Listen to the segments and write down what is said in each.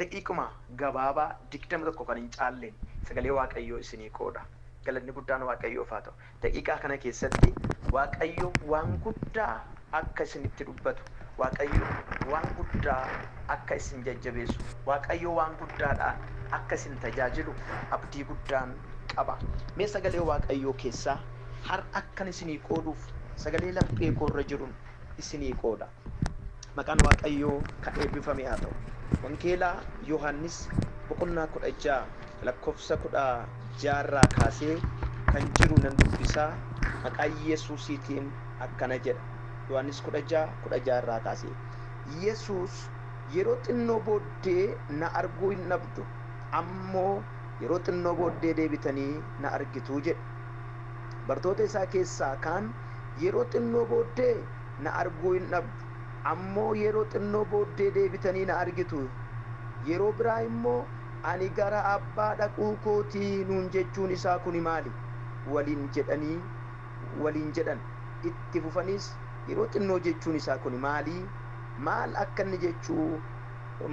Daqiiquma gabaabaa 21 kan hin caalleen sagalee Waaqayyoo isinii qooda. Galanni guddaan Waaqayyoof haa ta'u. Daqiiqaa kana keessatti Waaqayyo waan guddaa akka isinitti dubbatu, Waaqayyo waan guddaa akka isin jajjabeessu, Waaqayyo waan guddaadhaan akka isin tajaajilu abdii guddaan qaba. Mee sagalee Waaqayyoo keessaa har'a akkan isinii qooduuf sagalee laphee koo irra jirun isinii qooda. Maqaan Waaqayyoo kan eebbifame haa ta'u. Wangeela Yohaannis boqonnaa kudha ja'a lakkoofsa kudha ja'a irraa kaasee kan jiru nan dubbisa. Maqaa Yesuusiitiin akkana jedha. Yohaannis kudha ja'a kudha ja'a irraa kaasee. Yesuus yeroo xinnoo booddee na arguu hin dhabdu, ammoo yeroo xinnoo booddee deebitanii na argitu jedhe. Bartoota isaa keessaa kaan yeroo xinnoo booddee Na arguu hin dhabdu. Ammoo yeroo xinnoo booddee deebitanii na argitu. Yeroo biraa immoo, Ani gara Abbaa dhaquu koo ti nuun jechuun isaa kuni maali? waliin jedhanii waliin jedhan. Itti fufaniis, Yeroo xinnoo jechuun isaa kuni maali? Maal akka inni jechuu.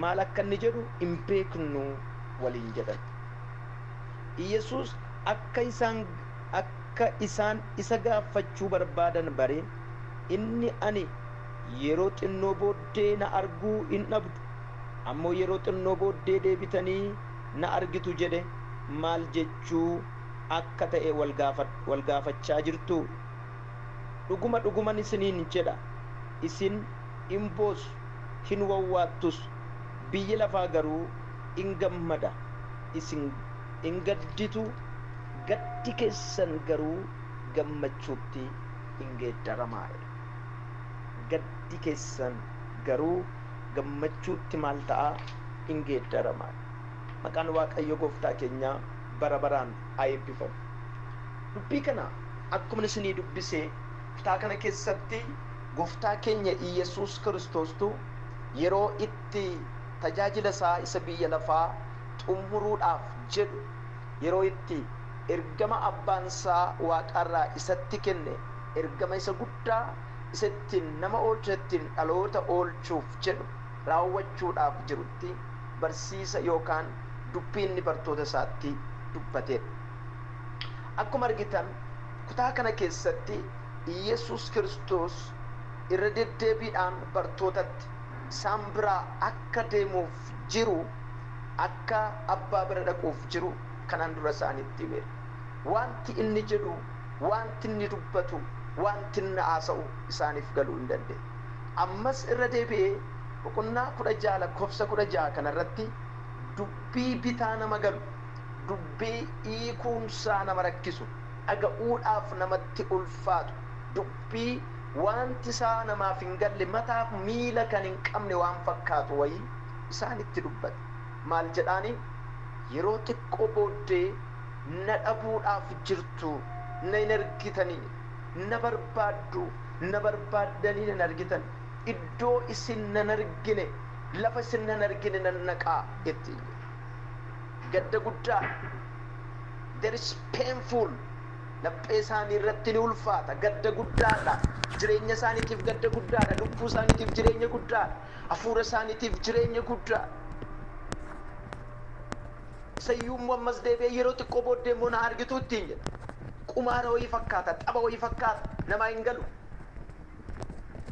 maal akka inni jedhu hin beeknu waliin jedhan. Iyyasuus akka isaan akka isaan isa gaaffachuu barbaadan baree. inni ani yeroo xinnoo booddee na arguu hin dhabdu, ammoo yeroo xinnoo booddee deebitanii na argitu jedhe maal jechuu akka ta'e wal gaafachaa jirtuu? Dhuguma dhuguman isiniin jedha, isin in boossu, hin wawwaattus, biyyi lafaa garuu in gammada, isin in gadditu, gaddi keessan garuu gammachuutti in geeddaramaa'e. Gaddi keessan garuu gammachuutti maal ta'a? In geeddarama. Maqaan Waaqayyo Gooftaa keenyaa bara baraan haa eebbifamu. Dubbii kana akkuman isinii dubbise kutaa kana keessatti Gooftaa keenya Iyyasuus Kiristoostu yeroo itti tajaajila isaa isa biyya lafaa xumuruudhaaf jedhu yeroo itti ergama Abbaan isaa waaqaarraa isatti kenne, ergama isa guddaa isa ittiin nama oolchu, ittiin dhaloota oolchuuf jedhu raawwachuudhaaf jirutti barsiisa yookaan dubbii inni bartoota isaatti dubbateedha. Akkuma argitan kutaa kana keessatti Iyyesuus Kiristoos irra deddeebiidhaan bartootatti isaan biraa akka deemuuf jiru akka Abbaa bira dhaquuf jiru kanaan dura isaanitti himeera. Wanti inni jedhu, wanti inni dubbatu, wanti inni haasa'u isaaniif galuu hin dandeenye. Ammas irra deebi'ee boqonnaa 16 lakkoofsa 16 kana irratti dubbii bitaa nama galu, dubbii hiikuunsaa nama rakkisu, dhaga'uudhaaf namatti ulfaatu, dubbii Waanti isaa namaaf hin galle, mataaf miila kan hin qabne waan fakkaatu wayii isaanitti dubbate. Maal jedhaaniin? Yeroo xiqqoo booddee na dhabuudhaaf jirtu, na hin argitanii? Na barbaaddu, na barbaaddanii na hin argitan. Iddoo isin na hin argine, lafa isin na hin argine nan dhaqa ittiin jedhe. Gadda guddaadha. There is painful. Laphee isaanii irratti ni ulfaata. Gadda guddaa dha. Jireenya isaaniitiif gadda guddaa dha. Lubbuu isaaniitiif jireenya guddaa dha. Hafuura isaaniitiif jireenya guddaa dha. Isa iyyuu immoo ammas deebi'ee yeroo xiqqoo booddee immoo na argitu ittiin jedha. Qumaara wayii fakkaata, tapha wayii fakkaata, namaa hin galu.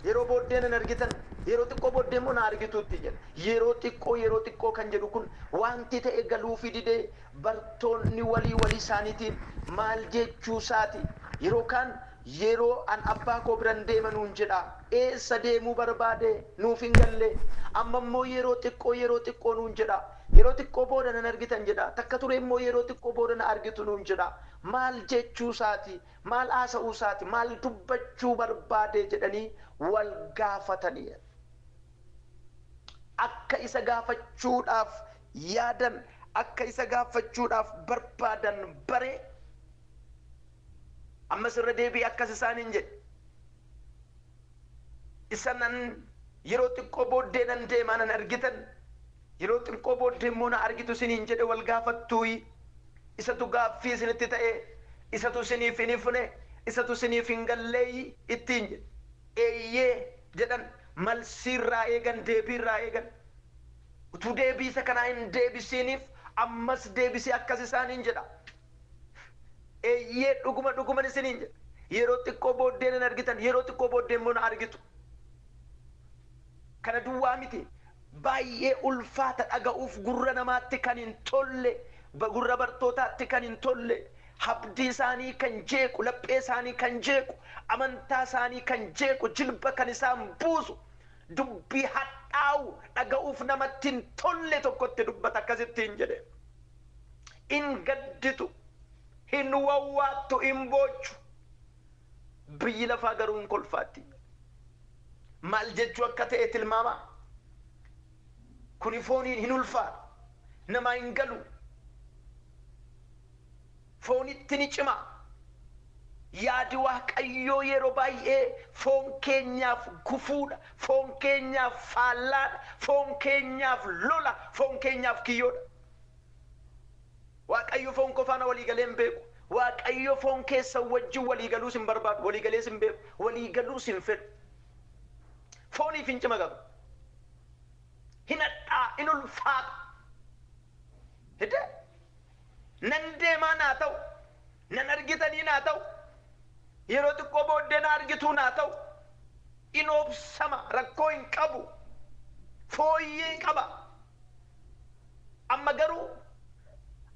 Yeroo booddee nan argitan, yeroo xiqqoo booddee immoo na argitu ittiin jedha. Yeroo xiqqoo, yeroo xiqqoo kan jedhu kun wanti ta'e galuufii didee Bartoonni walii walii isaaniitiin, Maal jechuu isaa ti? Yeroo kaan, Yeroo an abbaa koo biran deema nuun jedha. Eessa deemuu barbaade? Nuuf hin galle. Amma immoo yeroo xiqqoo, yeroo xiqqoo nuun jedha. Yeroo xiqqoo booda nan argitan jedha. Takka turee immoo yeroo xiqqoo booda na argitu nuun jedha. Maal jechuu isaa ti? Maal haasa'uu isaa ti? Maal dubbachuu barbaade? jedhanii wal gaafataniiru. Akka isa gaafachuudhaaf yaadan, akka isa gaaffachuudhaaf barbaadan bare. Ammas irra deebi'ee akkas isaaniin jedhe, Isa nan, Yeroo xiqqoo booddee nan deema, na hin argitan, yeroo xiqqoo booddee immoo na argitu isiniin jedhe wal gaafattuuyii? Isatu gaaffii isinitti ta'ee? Isatu isiniif hin ifne? Isatu isiniif hin galleeyii? ittiin jedhe. Eeyyee! jedhan, malsii irraa eegan, deebii irraa eegan. Utuu deebii isa kanaa hin deebisiiniif ammas deebisee akkas isaaniin jedha, Eeyyee, dhuguma dhuguman isiniin jedha, yeroo xiqqoo booddee nan argitan, yeroo xiqqoo booddee immoo na argitu. Kana duwwaa miti, baay'ee ulfaata, dhaga'uuf gurra namaatti kan hin tolle, gurra bartootaatti kan hin tolle, habdii isaanii kan jeequ, laphee isaanii kan jeequ, amantaa isaanii kan jeequ, jilba kan isaan buusu, dubbii hadhaa'u dhaga'uuf namatti hin tolle tokkotti dubbata akkas ittiin jedhe hin gadditu hin wawwaattu hin boochu biyyi lafaa garuu hin kolfaatti maal jechuu akka ta'e tilmaamaa kuni fooniin hin ulfaatu namaa hin galu Foonitti ni cima. Yaadi Waaqayyoo yeroo baay'ee foon keenyaaf gufuu dha, foon keenyaaf faallaa dha, foon keenyaaf lola, foon keenyaaf kiyyoo dha. Waaqayyo foon koo faana walii galee hin beeku. Waaqayyo foon keessan wajjin walii galuus hin barbaadu, walii galees hin beeku, walii galuus hin fedhu. Fooniif hin cima garuu. Hin hadhaa'a, hin ulfaata. Hidee Nan deemaa naa ta'u Nan argitanii naa ta'u Yeroo xiqqoo booddee naa argituu naa ta'u In obsama rakkoo hin qabu Fooyyee qaba Amma garuu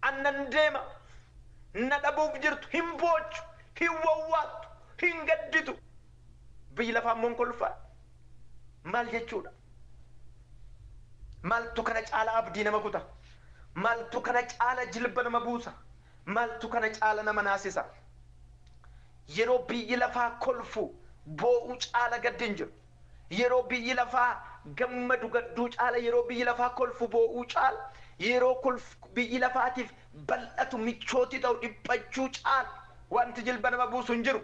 An nan deema Na dhabuuf jirtu Hin boochu Hin wawwaattu Hin gadditu Biyyi lafaa immoo hin kolfaa? Maal jechuudha? Maaltu kana caala abdii nama kuta? Maaltu kana caala jilba nama buusa? Maaltu kana caala nama naasisa? Yeroo biyyi lafaa kolfu, boo'u caala gaddi hin jiru. Yeroo biyyi lafaa gammadu, gadduu caala, yeroo biyyi lafaa kolfu, boo'uu caala, yeroo kolf biyyi lafaatiif bal'atu, michooti ta'u, dhiphachuu caala wanti jilba nama buusu hin jiru.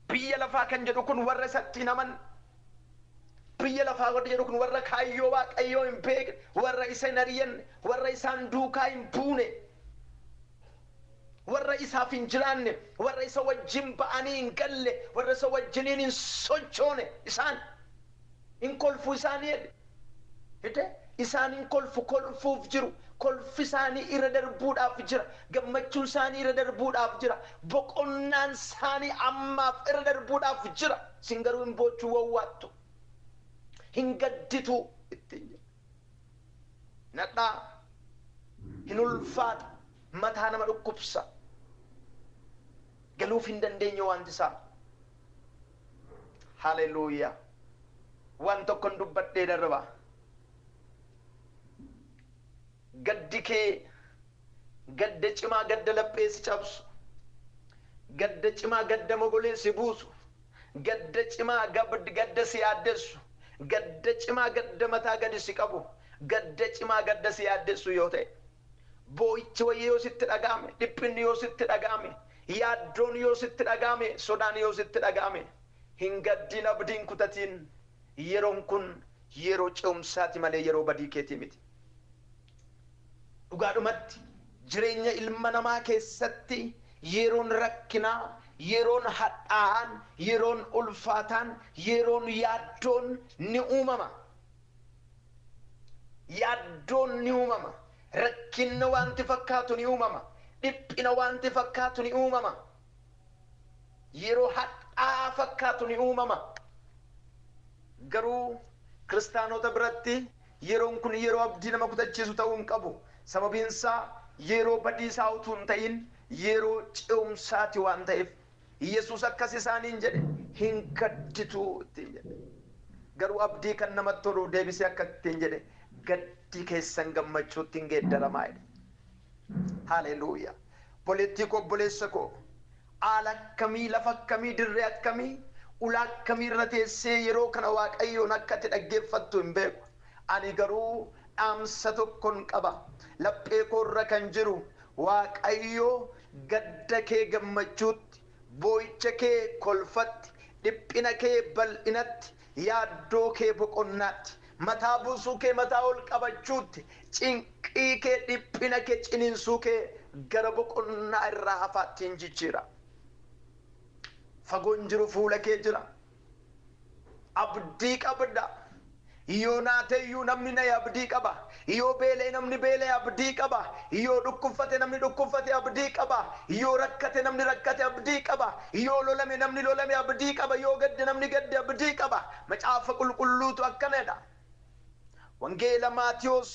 Biyya lafaa kan jedhu kun warra isatti hin amanne. Biyya lafaa warri jedhu kun warra kaayyoo Waaqayyoo hin beekne, warra isa hin ari'anne, warra isaan duukaa hin buune, warra isaaf hin jiraanne, warra isa wajjin ba'anii hin galle, warra isa wajjiniin hin sochoone isaan. In kolfu isaanii jedhe. Fide, isaan in kolfu, kolfuuf jiru. Kolfi isaanii irra darbuudhaaf jira. Gammachuun isaanii irra darbuudhaaf jira. Boqonnaan isaanii ammaaf irra darbuudhaaf jira. Isin garuu hin boochuu, wawwaattu. Hin gaddituu ittiin jedhe. Hin hadhaa'a. Hin ulfaata. Mataa nama dhukkubsa. Galuuf hin dandeenye wanti isaa. Hallelujah Waan tokkon dubbadhee darba. Gaddi kee gadda cimaa gadda laphee si cabsu, gadda cimaa gadda mogolee si buusu, gadda cimaa gadda si yaaddessu, gadda cimaa gadda mataa gadi si qabu, gadda cimaa gadda si yaaddessu yoo ta'e. Boo'ichi wayii yoo sitti dhaga'ame, dhiphinni yoo sitti dhaga'ame, yaaddoon yoo sitti dhaga'ame, sodaan yoo sitti dhaga'ame, hin gaddiin abdii hin kutatiin yeroon kun yeroo ce'umsaati malee yeroo badii keetii miti. Dhugaadhumatti jireenya ilma namaa keessatti yeroon rakkinaa, yeroon hadhaa'aan, yeroon ulfaataan, yeroon yaaddoon ni uumama. Yaaddoon ni uumama. Rakkinna waanti fakkaatu ni uumama. Dhiphina waanti fakkaatu ni uumama. Yeroo hadhaa'aa fakkaatu ni uumama. Garuu Kiristaanota biratti yeroon kun yeroo abdii nama kutachiisu ta'uu hin qabu. Sababiin isaa yeroo badiisaa utuu hin ta'in yeroo ce'umsaati waan ta'eef Yesuus akkas isaaniin jedhe, Hin gadditu ittiin jedhe. Garuu abdii kan namatti tolu deebisee akkas ittiin jedhe, Gaddi keessan gammachuutti in geeddaramaa jedhe. Haleluuyaa! Obboleettii koo, obboleessa koo, haala akkamii, lafa akkamii, dirree akkamii, ulaa akkamii irra teessee yeroo kana Waaqayyoon akka ati dhaggeeffattu hin beeku. Ani garuu dhaamsa tokkon qaba. Laphee koo irra kan jiru Waaqayyo gadda kee gammachuutti, boo'icha kee kolfatti, dhiphina kee bal'inatti, yaaddoo kee boqonnaatti, mataa buusuu kee mataa ol qabachuutti, cinqii kee, dhiphina kee, ciniinsuu kee gara boqonnaa irraa hafaatti in jijjiira. Fagoo hin jiru, fuula kee jira. Abdii qabda. Yoo naateyyuu namni naye abdii qaba. Yoo beela'e namni beela'e abdii qaba. Yoo dhukkubfate namni dhukkubfate abdii qaba. Yoo rakkate namni rakkate abdii qaba. Yoo lolame namni lolame abdii qaba. Yoo gadde namni gadde abdii qaba. Macaafa Qulqulluutu akkana jedha. Wangeela Maatewos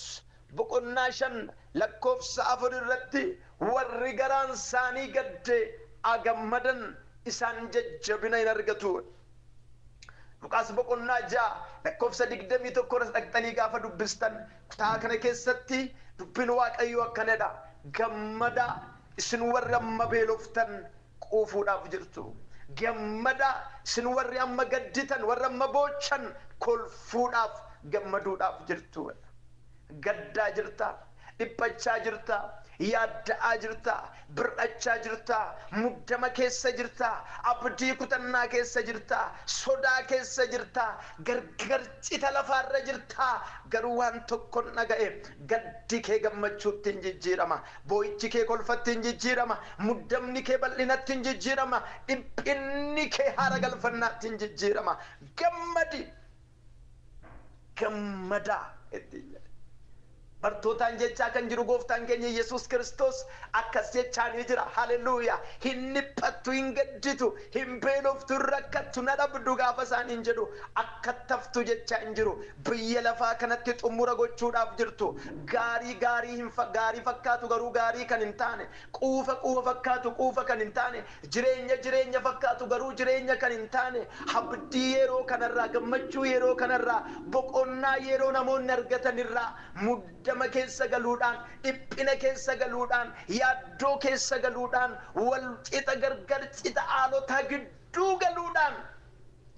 boqonnaa 5 lakkoofsa 4 irratti warri garaan isaanii gadde a gammadan isaan jajjabina in argatu. Luqaas boqonnaa 6 lakkoofsa 21 irras dhaqxanii gaafa dubbistan kutaa kana keessatti dubbiin Waaqayyoo akkana jedha gammadaa isin warri amma beeloftan quufuudhaaf jirtu. Gammadaa, isin warri amma gadditan, warri amma boochan kolfuudhaaf, gammaduudhaaf jirtu. Gaddaa jirtaa? Dhiphachaa jirtaa? Yaadda'aa jirtaa? Bir'achaa jirtaa? Muddama keessa jirtaa? Abdii kutannaa keessa jirtaa? Sodaa keessa jirtaa? Gargar cita lafaa irra jirtaa? Garuu waan tokkon dhaga'e, gaddi kee gammachuutti in jijjiirama. Boo'ichi kee kolfatti in jijjiirama, muddamni kee bal'inatti in jijjiirama, dhiphinni kee haara galfannaatti in jijjiirama. Gammadi! Gammadaa! ittiin jedhe. Bartootaan jechaa kan jiru Gooftaan keenya Yesuus Kiristoos akkas jechaanii jira. Haleluuyaa! Hin dhiphattu, hin gadditu, hin beeloftu, hin rakkattu, na dhabdu gaafa isaaniin jedhu akkattaftu jechaa hin jiru. Biyya lafaa kanatti xummura gochuudhaaf jirtu, gaarii gaarii hin fa, gaarii fakkaatu garuu gaarii kan hin taane, quufa quufa fakkaatu quufa kan hin taane, jireenya jireenya fakkaatu garuu jireenya kan hin taane, habdii yeroo kanarraa, gammachuu yeroo kanarraa, boqonnaa yeroo namoonni argatanirraa muddama keessa galuudhaan, dhiphina keessa galuudhaan, yaaddoo keessa galuudhaan, wal qixa gargar cita aalotaa gidduu galuudhaan,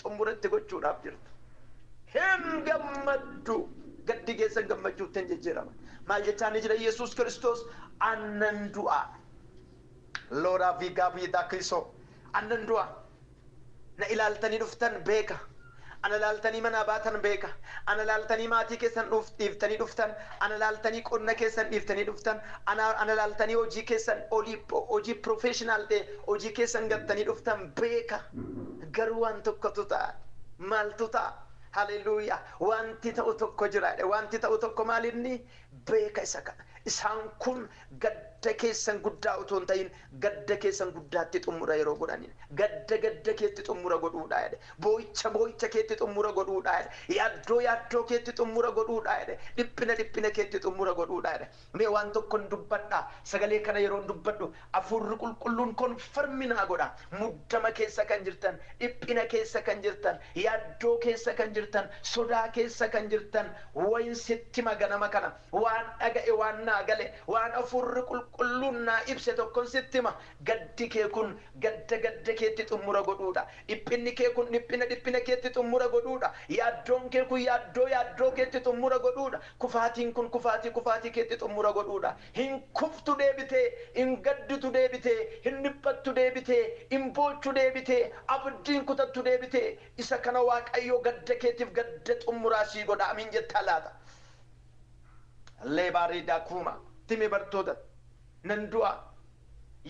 xumura itti gochuudhaaf jirtu. Hin gammaddu. Gaddi keessan gammachuutti hin jijjiirama. Maal jechaa ni jira Yesuus Kiristoos? Annan du'a. Looraa fi Gaabii Daaklisoo. Annan du'a. Na ilaaltanii dhuftan beeka. Ana ilaaltanii manaa baatan beeka. Ana ilaaltanii maatii keessan dhiiftanii dhuftan. Ana ilaaltanii qonna keessan dhiiftanii dhuftan. Ana ilaaltanii hojii keessan hojii professional ta'e Hojii keessan gattanii dhuftan beeka, garuu waan tokkotu ta'a. Maaltu ta'a? Haleluuyaa! Wanti ta'u tokko jira jedhe. Wanti ta'u tokko maalinni? Beeka isa kana. Isaan kun gadda keessan guddaa utuu hin ta'in, gadda keessan guddaatti xummura yeroo godhaniidha. Gadda gadda keetti xummura godhuudha jedhe. Boo'icha boo'icha keetti xummura godhuudha jedhe. Yaaddoo yaaddoo keetti xummura godhuudha jedhe. Dhiphina dhiphina keetti xummura godhuudha jedhe. Mee waan tokkon dubbadha, sagalee kana yeroon dubbadhu Afuurri Qulqulluun confirm naa godha. Muddama keessa kan jirtan, dhiphina keessa kan jirtan, yaaddoo keessa kan jirtan, sodaa keessa kan jirtan, wayin sitti hima ganama kana. Waan dhaga'e, waan naa gale, waan Afuurri Qulqulluun naa ibse tokkon sitti hima. Gaddi kee kun gadda gadda keetti xummura godhuudha. Dhiphinni kee kun dhiphina dhiphina keetti xummura godhuudha. Yaaddoon kee kun yaaddoo yaaddoo keetti xummura godhuudha. Kufaatiin kun kufaatii kufaatii keetti xummura godhuudha. Hin kuftu deebitee, hin gadditu deebitee, hin dhiphattu deebitee, hin boochu deebitee, abdii hin kutattu deebitee. Isa kana Waaqayyo gadda keetiif gadda xummuraa sii godha. Amiin jettaa laata? Leebaa Riidaa Kuuma. Itti himi bartootatti. Nan du'a.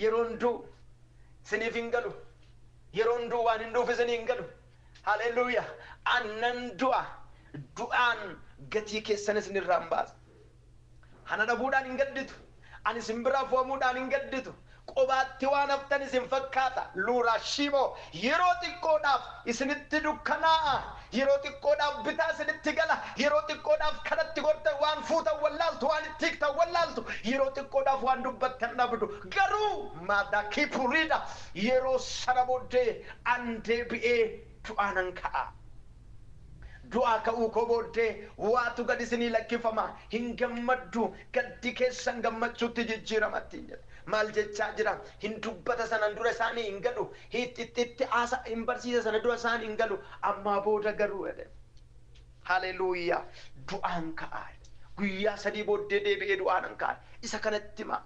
Yeroon du'u isiniif hin galu. Yeroon du'u waan hin du'uuf isinii hin galu. Haleluuyaa! An nan du'a, du'aan gatii keessan isin irraa in baasa. Ana dhabuudhaan hin gadditu, ani isin biraa fo'amuudhaan hin gadditu. Qobaatti waan haftan isin fakkaata, Luuraashiimo. Yeroo xiqqoodhaaf isinitti dukkanaa'a, yeroo xiqqoodhaaf bitaa isinitti gala, yeroo xiqqoodhaaf kan itti gortan, waan fuutan wallaaltu, waan itti hiiktan wallaaltu, yeroo xiqqoodhaaf waan dubbattan dhabdu. Garuu, Maadaakii Puriida, yeroo sana booddee An deebi'ee du'aa nan ka'a. Du'aa ka'uu koo booddee waatu gad isinii lakkifama, hin gammaddu, gaddi keessan gammachuutti jijjiirama ittiin jedhe. Maal jechaa jira? Hin dubbata sanan dura isaanii hin galu, hiixxitti haasa, hin barsiisa sana dura isaan hin galu, ammaa booda garuu jedhe. Haleluuyaa! Du'aan ka'a jedhe. Guyyaa sadii booddee deebi'ee du'aa nan ka'a. Isa kanatti himaa.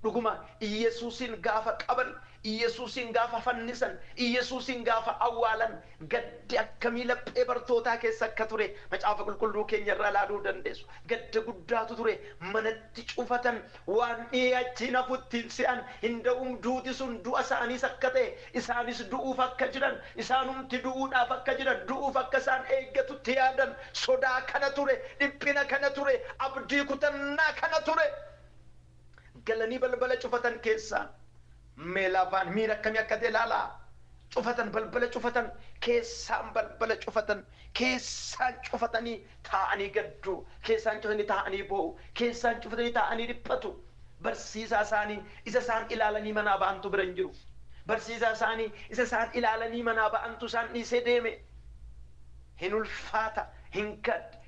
Dhuguma Iyyasuusiin gaafa qaban Iyyesuusiin gaafa fannisan, Iyyesuusiin gaafa awwaalan gaddi akkamii laphee bartootaa keessa akka ture Macaafa Qulqulluu keenya irraa ilaaluu dandeessu. Gadda guddaatu ture. Manatti cufatan. Waan dhihee achi hin hafu itti hin se'an. Hin da'um duuti sun du'a isaaniis akka ta'e, isaanis du'uuf akka jiran, isaanumti du'uudhaaf akka jiran, du'uuf akka isaan eeggatu itti yaadan. Sodaa kana ture, dhiphina kana ture, abdii kutannaa kana ture. Galanii balbala cufatan keessaa Meelaavaan miira akkamii akka ta'e ilaalaa. Cufatan balbala cufatan keessaan balbala cufatan keessaan cufatanii taa'anii gaddu, keessaan cufatanii taa'anii boo'u, keessaan cufatanii taa'anii dhiphatu. Barsiisaa isaanii isa isaan ilaalanii manaa ba'antu bira hin jiru. Barsiisaa isaanii isa isaan ilaalanii manaa ba'antu isaan dhiisee deeme. Hin ulfaata, hin gadda,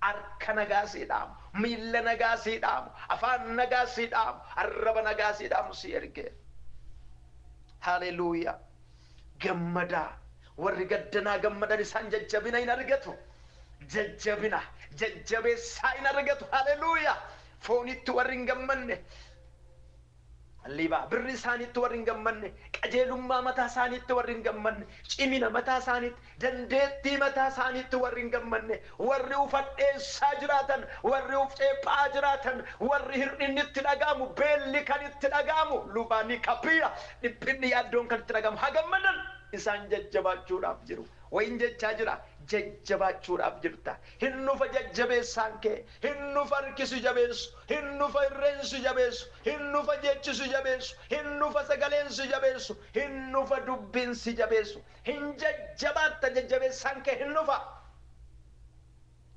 Harka nagaa sii dhaamu, miilla nagaa sii dhaamu, afaan nagaa sii dhaamu, arraba nagaa sii dhaamu sii erge. Haleluuyaa! Gammadaa! Warri gaddanaa gammadan isaan jajjabina in argatu. Jajjabina, jajjabeessaa in argatu. Haleluuyaa! Fooniitti warri hin gammanne. Liba. Birrii isaaniitti warri hin gammanne, qajeelummaa mataa isaaniitti warri hin gammanne, cimina mataa isaaniitti, dandeettii mataa isaaniitti warri hin gammanne, warri uf hadheessaa jiraatan, warri uf ceepha'aa jiraatan, warri hir'inni itti dhaga'amu, beelli kan itti dhaga'amu, luba ni capire, dhiphinni, yaaddoon kan itti dhaga'amu, haa gammadan! Isaan jajjabaachuudhaaf jiru. Wayin jechaa jira, jajjabaachuudhaaf jirta. Hin dhufa jajjabeessaan kee. Hin dhufa harki si jabeessu Hin dhufa irreen si jabeessu Hin dhufa jechi si jabeessu Hin dhufa sagaleen si jabeessu Hin dhufa dubbiin si jabeessu Hin jajjabaatta jajjabeessaan kee hin dhufa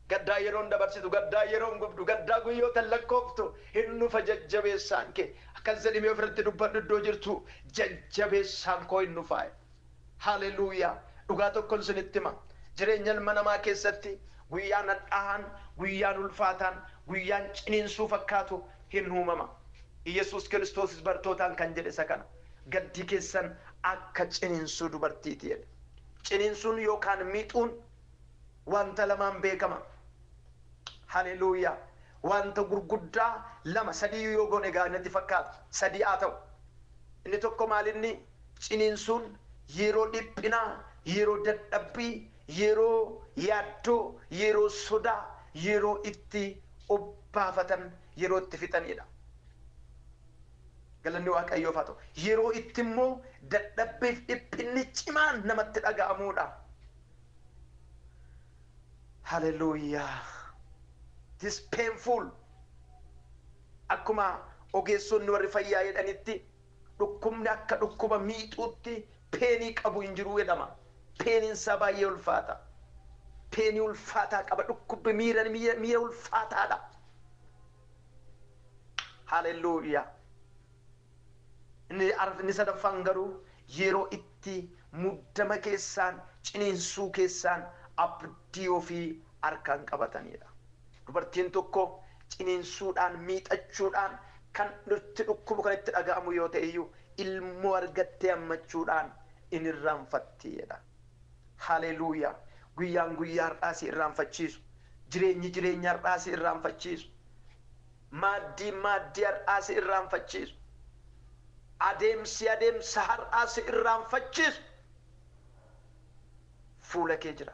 Gaddaa yeroon dabarsitu Gaddaa yeroon gubdu Gaddaa guyyootan lakkooftu Hin dhufa jajjabeessaan kee Akkas jedhimee ofirratti dubbadhu iddoo jirtuu Jajjabeessaan koo hin dhufaa. Hallelujah! Dhugaa tokkon isinitti hima, jireenya ilma namaa keessatti guyyaan hadhaahaan, guyyaan ulfaataan, guyyaan ciniinsuu fakkaatu hin uumama. Iyyasuus Kiristoosis bartootaan kan jedhe isa kana. Gaddi keessan akka ciniinsuu dubartiiti jedhe. Ciniinsuun yookaan miixuun wanta lamaan beekama. Hallelujah! Wanta gurguddaa lama, sadii iyyuu yoo goone gaarii natti fakkaata. Sadii haa ta'u. Inni tokko maal inni? Ciniinsuun yeroo dhiphinaa, yeroo dadhabbii, yeroo yaaddoo, yeroo sodaa, yeroo itti of baafatan, yeroo itti fixaniidha. Galanni Waaqayyoof haa ta'u. Yeroo itti immoo dadhabbiif dhiphinni cimaan namatti dhaga'amuudha. Hallelujah! It is painful. Akkuma ogeessonni warri fayyaa jedhanitti Dhukkubni akka dhukkuba miixuutti peenii qabu hin jiru jedhama. Peeniin isaa baay'ee ulfaata. Peenii ulfaataa qaba. Dhukkubbi miira miira ulfaataadha. Haalelluuyaa! Inni arf inni sadaffaan garuu yeroo itti muddama keessaan, ciniinsuu keessaan abdii ofii harkaan qabataniidha. Dubartiin tokko ciniinsuudhaan, miixachuudhaan, kan itti dhukkubu, kan itti dhaga'amu yoo ta'e iyyuu ilmoo argattee hammachuudhaan in irraanfatti jedha. Haleeluuyaa! Guyyaan guyyaa har'aa si irraanfachiisu, jireenyi jireenya har'aa si irraanfachiisu, maaddiin maaddii har'aa si irraanfachiisu, adeemsi adeemsa har'aa si irraanfachiisu fuula kee jira.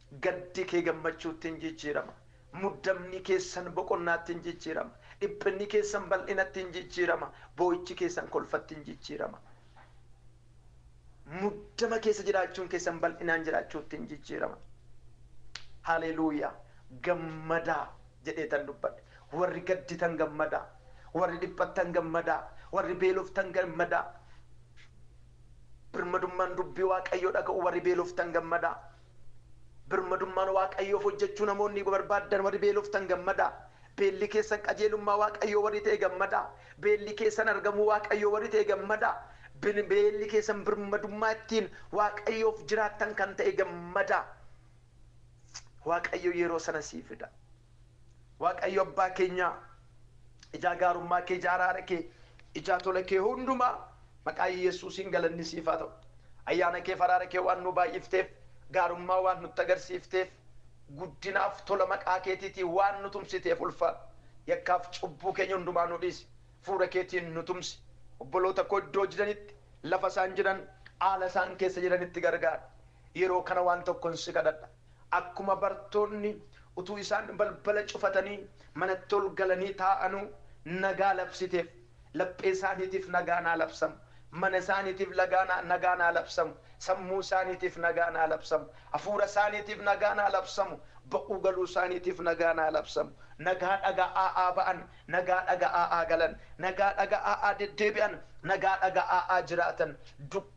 Gaddi kee gammachuutti in jijjiirama, muddamni keessan boqonnaatti in jijjiirama, dhiphinni keessan bal'inatti in jijjiirama, boo'ichi keessan kolfatti in jijjiirama. Muddama keessa jiraachuun keessan bal'inaan jiraachuutti in jijjiirama. Haleluuyaa! Gammadaa! jedheetan dubbadhe. Warri gadditan gammadaa! Warri dhiphattan gammadaa! Warri beeloftan gammadaa! Birmadummaan dubbii Waaqayyoo dhaga'uu warri beeloftan gammadaa. Birmadummaan Waaqayyoof hojjechuu namoonni barbaaddan warri beeloftan gammadaa. Beelli keessan qajeelummaa Waaqayyoo warri ta'e gammadaa. Beelli keessan argamuu Waaqayyoo warri ta'e gammadaa. Beelli keessan birmadummaa ittiin Waaqayyoof jiraattan kan ta'e gammadaa. Waaqayyo yeroo sana sii fida. Waaqayyo abbaa keenyaa ijaa gaarummaa kee, ijaa araara kee, ijaa tola kee hundumaa maqaa Yesuusiin galanni siif haa ta'u. Ayyaana keef araara kee waan nuu baay'ifteef, gaarummaa waan nutti agarsiifteef, guddinaaf tola maqaa keetiitii waan nu tumsiteef ulfaadhu. Yakkaaf cubbuu keenya hundumaa nuu dhiisi. Fuura keetiin nu tumsi. Obboloota koo iddoo jiranitti, lafa isaan jiran, haala isaan keessa jiranitti gargaari. Yeroo kana waan tokkon si kadhadha. Akkuma bartoonni utuu isaan balbala cufatanii manatti ol galanii taa'anuu nagaa labsiteef, laphee isaaniitiif nagaan haa labsamu, mana isaaniitiif nagaan haa labsamu, sammuu isaaniitiif nagaan haa labsamu, hafuura isaaniitiif nagaan haa labsamu, ba'uu galuu isaaniitiif nagaan haa labsamu. Nagaa dhaga'aa haa ba'an, nagaa dhaga'aa haa galan, nagaa dhaga'aa haa deddeebi'an, nagaa dhaga'aa haa jiraatan.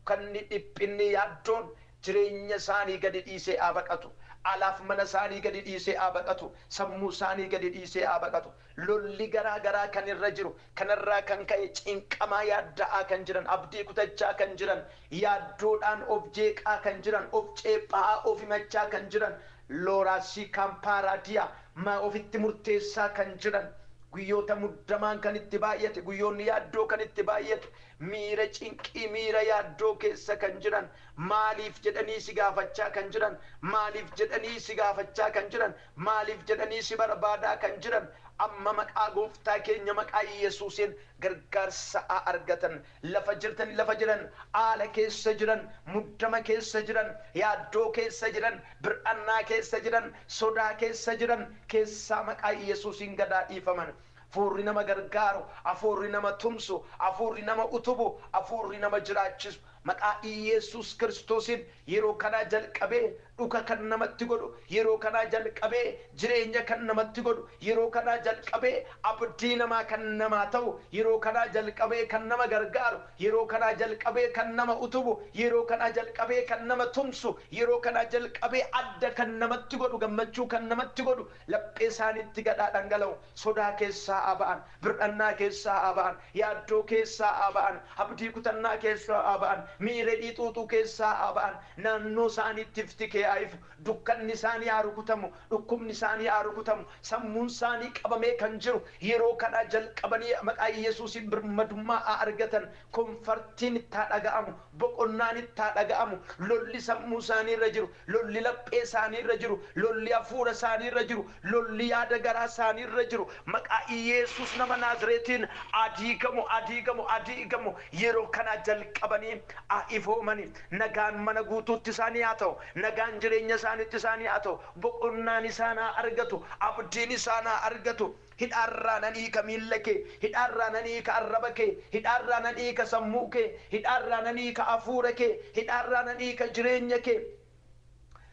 Kanni dhiphinni yaaddoon jireenya isaanii gadi dhiisee haa baqatu. Alaaf mana isaanii gadi dhiisee haa baqatu. Sammuu isaanii gadi dhiisee haa baqatu. Lolli garaa garaa kan irra jiru, kanarraa kan ka'e cinqamaa yaadda'aa kan jiran, abdii kutachaa kan jiran, yaaddoodhaan of jeeqaa kan jiran, of ceepha'aa, of himachaa kan jiran, Looraasii Kaampaaraadiyaa, maa ofitti murteessaa kan jiran, guyyoota muddamaan kan itti baay'ate, guyyoonni yaaddoo kan itti baay'atu, Miira cinqii, miira yaaddoo keessa kan jiran, maaliif jedhanii si gaafachaa kan jiran, maaliif jedhanii si gaafachaa kan jiran, maaliif jedhanii si barbaadaa kan jiran, amma maqaa gooftaa keenya maqaa Yesuusiin gargaarsa haa argatan. Lafa jirtani lafa jiran, haala keessa jiran, muddama keessa jiran, yaaddoo keessa jiran, bir'annaa keessa jiran, sodaa keessa jiran keessaa maqaa Yesuusiin gad haa dhiifaman. Afuurri nama gargaaru, Afuurri nama tumsu, Afuurri nama utubu, Afuurri nama jiraachisu maqaa Iyyeessuus Kiristoosiin yeroo kanaa jalqabee dhuka kan namatti godhu, yeroo kanaa jalqabee jireenya kan namatti godhu, yeroo kanaa jalqabee abdii namaa kan namaa ta'u, yeroo kanaa jalqabee kan nama gargaaru, yeroo kanaa jalqabee kan nama utubu, yeroo kanaa jalqabee kan nama tumsu, yeroo kanaa jalqabee adda kan namatti godhu, gammachuu kan namatti godhu, Laphee isaaniitti gad haa dhangala'u. Sodaa keessaa haa ba'an. Bir'annaa keessaa haa ba'an. Yaaddoo keessaa haa ba'an. Abdii kutannaa keessaa haa ba'an. Miiredhii xuuxuu keessaa haa ba'an. Naannoo isaaniitti ifti kee haa ifu. Dukkanni isaanii haa rukutamu. Dhukkubni isaanii haa rukutamu. Sammuun isaanii qabamee kan jiru yeroo kanaa jalqabanii maqaa Iyyasuusiin birmadummaa haa argatan. Konfartiin itti haa dhaga'amu. Boqonnaan itti haa dhaga'amu. Lolli sammuu isaanii irra jiru Lolli laphee isaanii irra jiru, lolli hafuura isaanii irra jiru, lolli yaada garaa isaanii irra jiru maqaa Iyeesuus nama Naazireetiin haa diigamu, haa diigamu, haa diigamu. Yeroo kanaa jalqabanii haa ifoomani. Nagaan mana guutuutti isaanii haa ta'u. Nagaan jireenya isaaniitti isaanii haa ta'u. Boqonnaan isaan haa argatu. Abdiin isaan haa argatu. Hidhaa irraa nan hiika miilla kee, hidhaa irraa nan hiika arraba kee, hidhaa irraa nan hiika sammuu kee, hidhaa irraa nan hiika hafuura kee, hidhaa irraa nan hiika jireenya kee.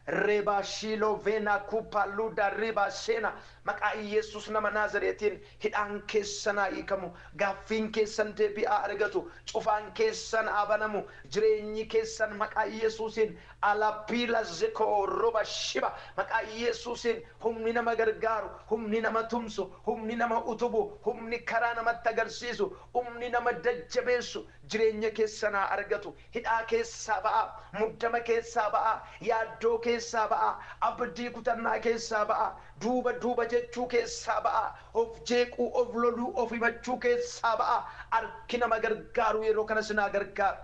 Rebaa shiiloo veenaa kuupaa luudaa riibaa seenaa maqaa Iyyeessuus nama Naazireetiin hidhaan keessan haa hiikamu, gaaffiin keessan deebii haa argatu, cufaan keessan haa banamu, jireenyi keessan maqaa Iyyeessuusiin Alaa biila zekoo roba shiba maqaa Iyyeessuusiin Humni nama gargaaru, humni nama tumsu, humni nama utubu, humni karaa namatti agarsiisu, humni nama jajjabeessu jireenya keessan haa argatu. Hidhaa keessaa ba'aa, muddama keessaa ba'aa, yaaddoo keessaa ba'aa, abdii kutannaa keessaa ba'aa, duuba duuba jechuu keessaa ba'aa, of jeequu, of loluu, of himachuu keessaa ba'aa. Harki nama gargaaru yeroo kana isin haa gargaaru.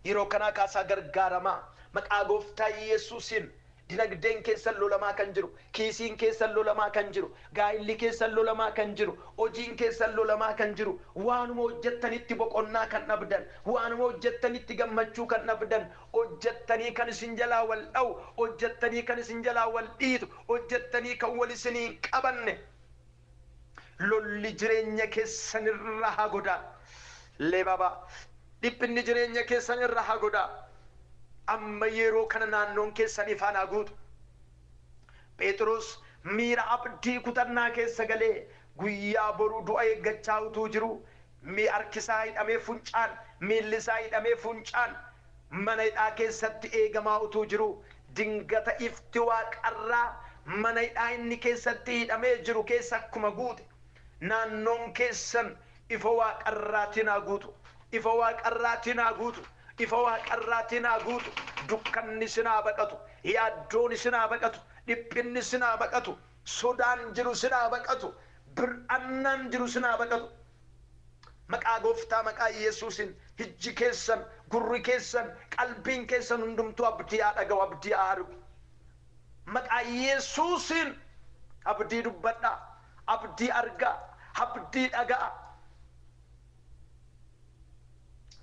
Yeroo kanaa kaasaa gargaaramaa. Maqaa Gooftaa Yesuusiin Dinagdeen keessan lolamaa kan jiru, kiisiin keessan lolamaa kan jiru, gaa'illi keessan lolamaa kan jiru, hojiin keessan lolamaa kan jiru, waanuma hojjettanitti boqonnaa kan dhabdan, waanuma hojjettanitti gammachuu kan dhabdan, hojjettanii kan isin jalaa wal dha'u, hojjettanii kan isin jalaa wal dhiitu, hojjettanii kan wal isinii hin qabanne, Lolli jireenya keessan irra haa godaa Lebaba dhiphinni jireenya keessan irra haa godaa Amma yeroo kana naannoon keessan ifaan haa guutu Pheexiroos miira abdii kutannaa keessa galee guyyaa boru du'a eeggachaa utuu jiruu Mi harki isaa hidhamee funcaan, miilli isaa hidhamee funcaan mana hidhaa keessatti eegamaa utuu jiruu, dingata ifti waaqarraa mana hidhaa inni keessatti hidhamee jiru keessa akkuma guute, naannoon keessan ifa waaqarraatiin haa guutu, ifa waaqarraatiin haa guutu, ifa waaqarraatiin haa guutu, dukkanni isin haa baqatu, yaaddoon isin haa baqatu, dhiphinni isin haa baqatu. Sodaan jiru sin haa baqatu bir'annaan jiru sin haa baqatu maqaa gooftaa maqaa yesuusin hijji keessan gurri keessan qalbiin keessan hundumtuu abdii haa dhaga'u abdii haa argu maqaa yesuusin abdii dubbadha abdii argaa abdii dhaga'a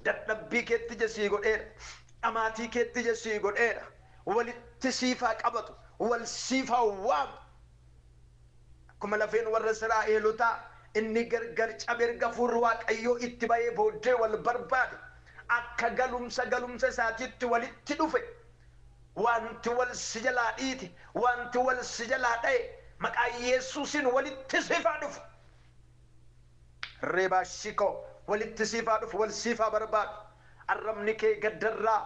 dadhabbii keetti ija sii godheera dhamaatii keetti ija sii godheera walitti siif haa qabatu, wal siif haa waamu. Akkuma lafeen warra Israa'eelotaa inni gargar cabe erga hafuurri Waaqayyoo itti ba'ee booddee wal barbaade, akka galumsa galumsa isaatiitti walitti dhufe, wanti wal si jalaa dhiite, wanti wal si jalaa dha'e maqaa Yesuusiin walitti siif haa dhufu. Reebaashi koo walitti siif haa dhufu wal siif haa barbaadu arrabni kee gaddarraa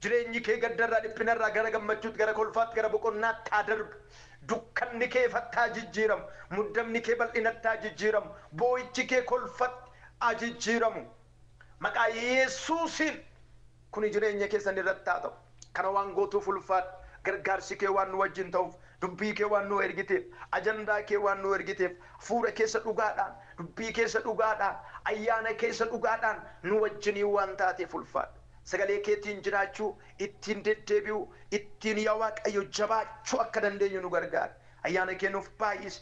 jireenyi kee gaddarraa dhiphinarraa gara gammachuutti gara kolfaatti gara boqonnaatti haa darbu dukkanni kee ifatti haa jijjiiramu muddamni kee bal'inatti haa jijjiiramu boo'ichi kee kolfatti haa jijjiiramu Maqaa Yesuusiin kuni jireenya keessan irratti haa ta'u. Kana waan gootuuf ulfaadhu. Gargaarsi kee waan nu wajjin ta'uuf, dubbii kee waan nuu ergiteef, ajandaa kee waan nuu ergiteef, hafuura keessa dhugaadhaan, dubbii keessa dhugaadhaan, ayyaana keessa dhugaadhaan nu wajjinii waan taateef ulfaadhu. Sagalee keetiin jiraachuu, ittiin deddeebi'uu, ittiin yaa Waaqayyo jabaachuu akka dandeenyu nu gargaari. Ayyaana kee nuuf baay'isi.